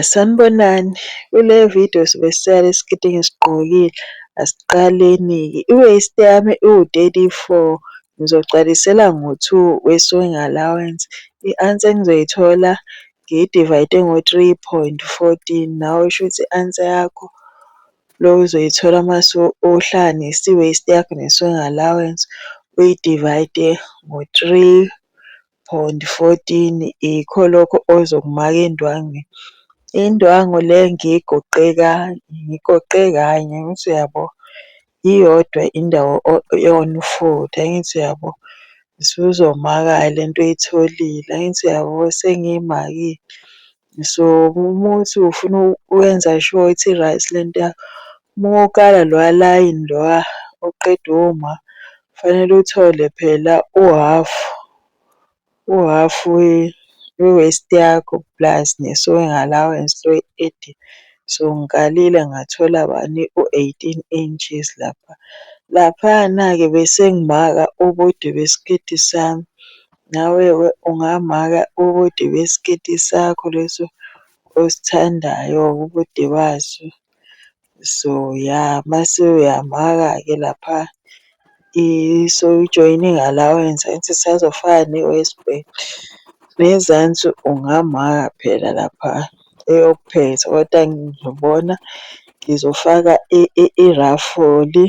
Sanibonani, kule vidiyo sobe sisela isiketi engisigqokile, asiqaleni-ke. I-waist yami iwu-thirty four, ngizogcwalisela ngo-two we-sewing allowance. I-answer engizoyithola ngiyidivayide ngo-three point fourteen, nawe shuthi i-answer yakho le ozoyithola uma uhlanganisa i-waist yakho ne-sewing allowance, uyidivayide ngo-three Bond 14 ikho lokho ozokumaka indwangu. Indwangu le ngiyigoqe ngigoqe kanye ngithi uyabo iyodwa indawo eyona ufutha ngithi uyabo. Usuzomaka-ke le nto oyitholile angithi uyabo sengiyimakile So uma uthi ufuna ukwenza sure ukuthi i-right le nto yakho, uma ukala loya layini loya oqeda uma kufanele uthole phela uhhafu, uhhafu we-waist yakho plus ne-sewing allowance le oyikhetile. So ngikalile ngathola bani u-eighteen inches lapha. Laphayana-ke bese ngimaka ubude besiketi sami Nawe ke ungamaka ubude besiketi sakho leso osithandayo ubude baso. So ya mase uyamaka-ke lapha so ujoyine ngala wenza enza isazofana ne-waist band. Nezansi ungamaka phela lapha eyokuphetha koda ngizobona ngizofaka irafoli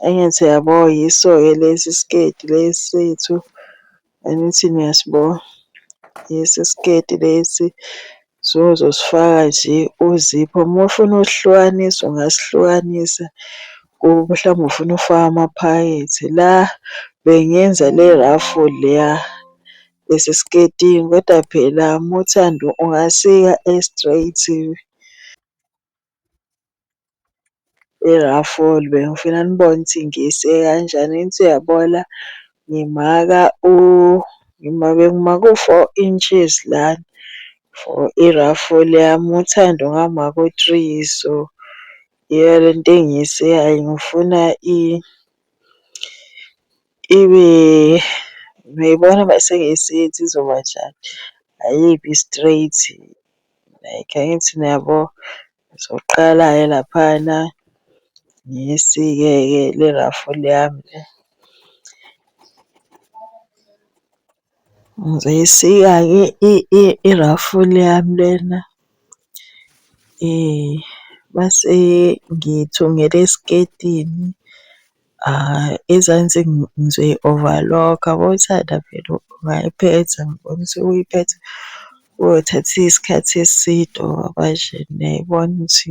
Angithi yabo yiso-ke lesi siketi lesi sethu, angithi niyasibona? Yiso isiketi lesi. So uzosifaka nje uzipho, uma ufuna usihlukanisa ungasihlukanisa mhlawumbe ufuna ukufaka amaphakethe. La bengenza le raffle leya esesiketini kodwa phela uma uthanda ungasika e-straight. I-raffle bengifuna nibone ukuthi ngiyise kanjani engithi uyabona ngimaka bengimaka u-four inches lana for i-raffle yami uThando ngamaka u-three so iyona lento engiyiseyayo ngifuna . Ibe uyayibona uma sengiyisithi izoba njani, ayibi straight like angithi niyabo. Ngizoqala-ke laphayana ngiyisike-ke le ruffle yami le. Ngizoyisika-ke irafula yami lena mase ngiyithungela esiketini. Ezansi ngizoyi-overlock, yabo uthanda phela ungayiphetha ngibona ukuthi uyiphetha kuyothatha isikhathi eside or kanjena yayibona ukuthi .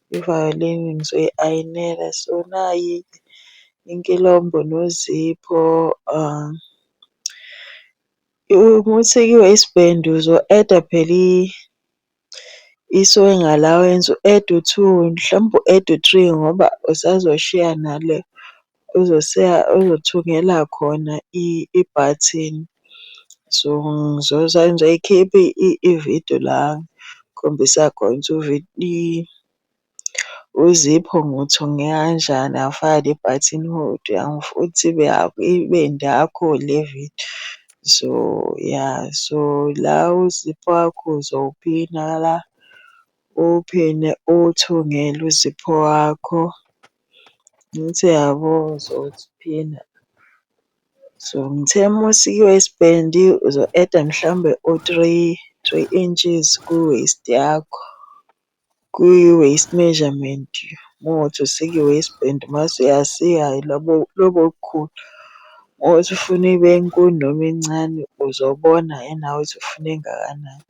Ivayolini ngizoyi-ayinela so nayi inkilombho nozipho. Uma usekiwe isbhendo uzo-eda phela i-sewing allowance, u-ede u-two, mhlawumbe u-ede u-three ngoba usazoshiya nale Uzothungela khona ibhathini. So ngizoyikhipha ividiyo la ngikhombisa khona ukuthi uzipho ngiwuthunge kanjani ngafaka le bhathini hodwa angifuthi ibe yinde yakho le vidiyo. So ya so la uzipho wakho uzowuphina la, uwuphine uwuthungele uzipho wakho. Ngithi yabo uzophina so ngithe mawusike u-spend uzo-add-a mhlawumbe u-three, three inches ku-waist yakho kwi-waist measurement mowuthi usika i-waistband mase uyasika lobo bukhulu. Mowuthi ufuna ibe nkulu noma incane uzobona nawe ukuthi ufuna engakanani.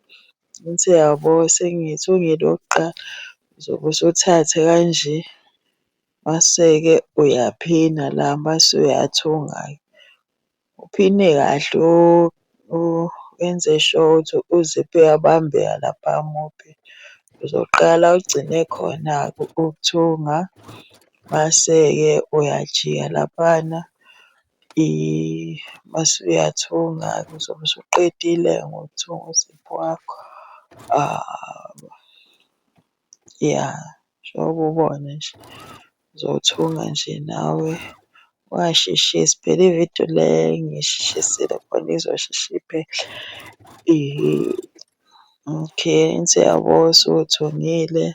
Ngithi, Yabo sengithi ungene okokuqala uzobe usuthathe kanje, mase-ke uyaphina la mase uyathunga-ke. Uphine kahle wenze sure ukuthi u-zip uyabambeka lapha muphi. Uzoqala ugcine khona-ke ukuthunga, mase-ke uyajika laphana Mase uyathunga-ke uzobe usuqedile ngokuthunga uziphu wakho. Ya njengoba ubona nje uzothunga nje nawe ungasheshisi phela ividiyo le ngiyisheshisile khona izosheshe iphele. Okay, engathi uyabo usuthungile.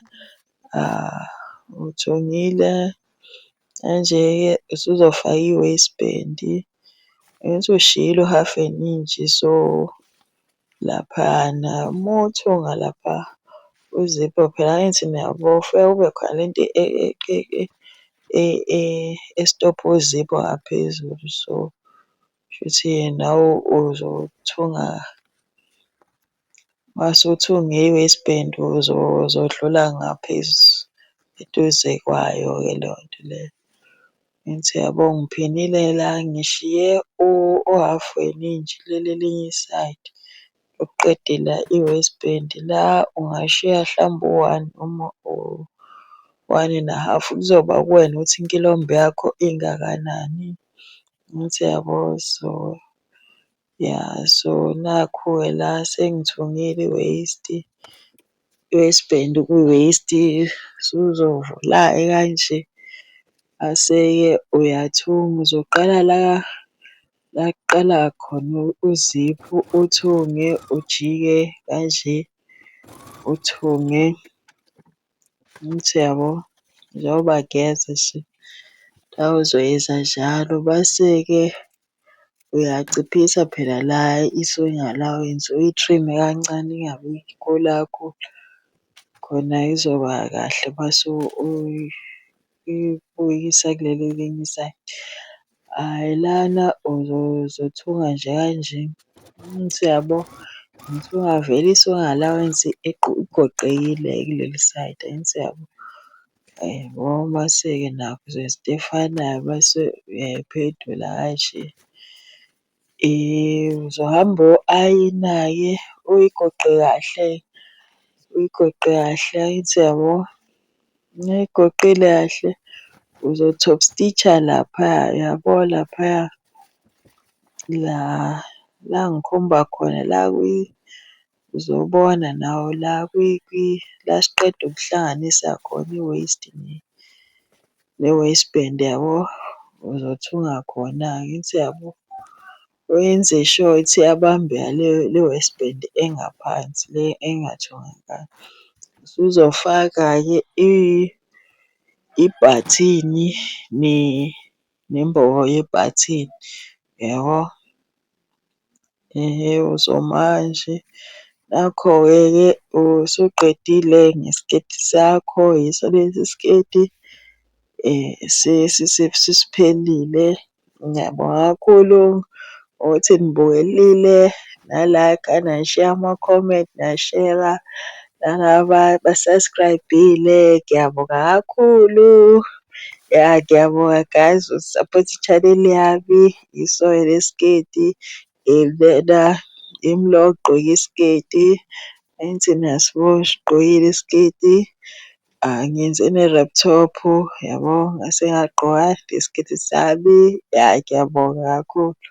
Uthungile kanje-ke usuzofaka i-waist band. Angithi ushiyile u-half an inch so laphayana. Uma uthunga lapha uzipho phela angithi niyabo kufike kube khona le nto esitobha uzipho ngaphezulu. So kushuthi nawe uzothunga. Mase uthi unge-West Bend uzodlula ngaphezu eduze kwayo-ke leyo nto leyo. Ngithi yabo ngiphilile la ngishiye u-half weningi ngilele elinye isayidi lokuqeda ila e-West Bend. La ungashiya hlampe u-one noma u-one and a half kuzoba kuwena ukuthi inkilombha yakho ingakanani. Ngithi yabo so Ya so nakhu-ke la sengithungile i-waste, i-waistband kwi-waste usuzovula-ke kanje. Mase-ke uyathunga uzoqala la la kuqala khona uziphu uthunge ujike kanje uthunge. Angithi uyabo? Njengoba ngeza nje nawe uzoyeza njalo mase-ke uyaciphisa phela la i-sewing allowance uyi-trim-e kancane ingabi inkulu kakhulu khona izoba kahle mase . ikubuyisa kuleli elinye isayidi. Hhayi lana uzothunga nje kanje ngithi uyabo, ngithi ungavele i-allowance igoqekile kuleli sayidi angithi uyabo. Ngoba mase-ke nakhu izinto ezifanayo mase uyayiphendula kanje. Uzohamba uyoayina-ke uyigoqe kahle, uyigoqe kahle angithi uyabo. Uma uyigoqile kahle uzo-top stitch-a laphaya yabo laphaya la la ngikhomba khona la Uzobona nawo la la siqeda ukuhlanganisa khona i-waste ne-waste bin yabo. Uzothunga khona-ke angithi uyabo. Wenze sure ukuthi iyabambeka le waste bin engaphansi le engathungekanga. Usuzofaka-ke ibhathini . Nembobo yebhathini yabo. Ewu somanje nakho-ke ke usuqedile ngesiketi sakho, yiso lesi siketi sesiphelile. Ngiyabonga kakhulu Ukuthi nibukelile na-like-a nasheya ama-comment nashera nalaba aba-subscribe-ile ngiyabonga kakhulu. Ya ngiyabonga guys uku-support i-channel yami ngiyisoya nesiketi lena yimi lo ogqoke isiketi angithi niyasibona sigqokile isiketi. Ngenze ne-rap top yabo, ngase ngagqoka nesiketi sami. Ya ngiyabonga kakhulu.